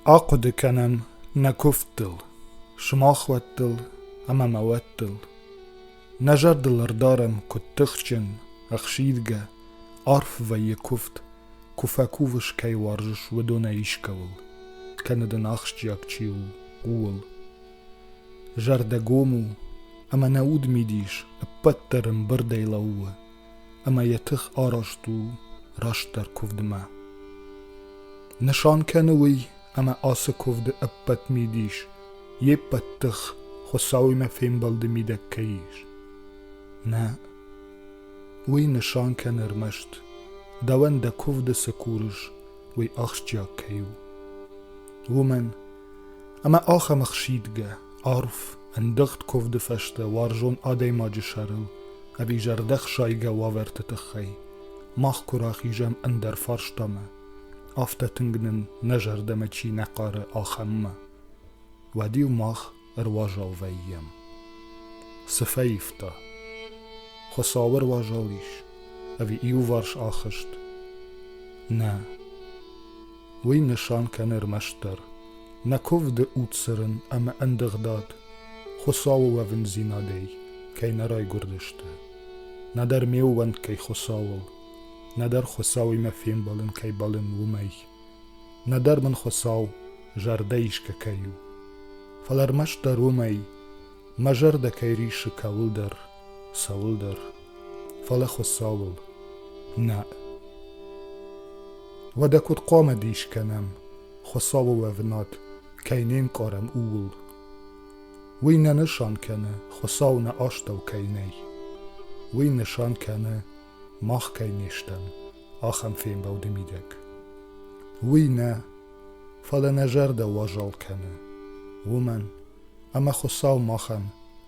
Ахъуыды кӕнӕм нӕ куывдтыл, сымахуӕттыл ӕмӕ мӕ уӕттыл. Нӕ зӕрдыл ӕрдарӕм, куыд тыхджын, ӕхсидгӕ, арф вӕййы куывд, куы фӕкувыс кӕй уарзыс, уыдонӕй искӕуыл, кӕнӕ дын ахсджиаг чи у, ууыл. Зӕрдӕгом у, ӕмӕ нӕ удмидис ӕппӕт дӕр ӕмбырдӕй лӕууы, ӕмӕ йӕ тых арӕзт у растдӕр куывдмӕ. Нысан кӕны уый, ӕмӕ ацы куывды ӕппӕт мидис, йе ппӕт тых Хуыцауимӕ фембӕлды мидӕг кӕй ис. Нӕ, уый нысан кӕны ӕрмӕст, дӕуӕн дӕ куывды цы курыс, уый ахсджиаг кӕй у. Уымӕн Ӕмӕ ахӕм ӕхсидгӕ, арф, ӕндыгъд куывды фӕстӕ уарзон адӕймаджы сӕрыл ӕви зӕрдӕхсайгӕ уавӕрты тыххӕй мах куы рахизӕм ӕндӕр фарстамӕ, афтӕ тынг нын нӕ зӕрдӕмӕ чи нӕ хъары, ахӕммӕ, уӕд-иу мах ӕруазал вӕййӕм. Цы фӕивта? Хуыцау ӕруазал ис, ӕви иуварс ахызт? Нӕ. Уый нысан кӕны ӕрмӕстдӕр, нӕ куывды удцырын ӕмӕ ӕндыгъдад Хуыцауы уӕвындзинадӕй кӕй нӕ райгуырдысты. Нӕдӕр ме ууӕнк кӕй Хуыцауыл, нӕдӕр Хуыцауимӕ фембӕлын кӕй бӕлын, уымӕй. Нӕдӕр мын Хуыцау зӕрдӕ исгӕ кӕй у. Фӕлӕ ӕрмӕстдӕр уымӕй, мӕ зӕрдӕ кӕй риссы кӕуылдӕр, цӕуылдӕр, фӕлӕ Хуыцауыл. Нӕ. Уӕдӕ куыд хъуамӕ дис кӕнӕм, Хуыцауы уӕвынад кӕй не нкъарӕм, ууыл? Уый нӕ нысан кӕны, Хуыцау нӕ астӕу кӕй нӕй. Уый нысан кӕны, мах кӕй не стӕм ахӕм фембӕлды мидӕг. Уый нӕ, фӕлӕ нӕ зӕрдӕ уазал кӕны, уымӕн ӕмӕ Хуыцау махӕн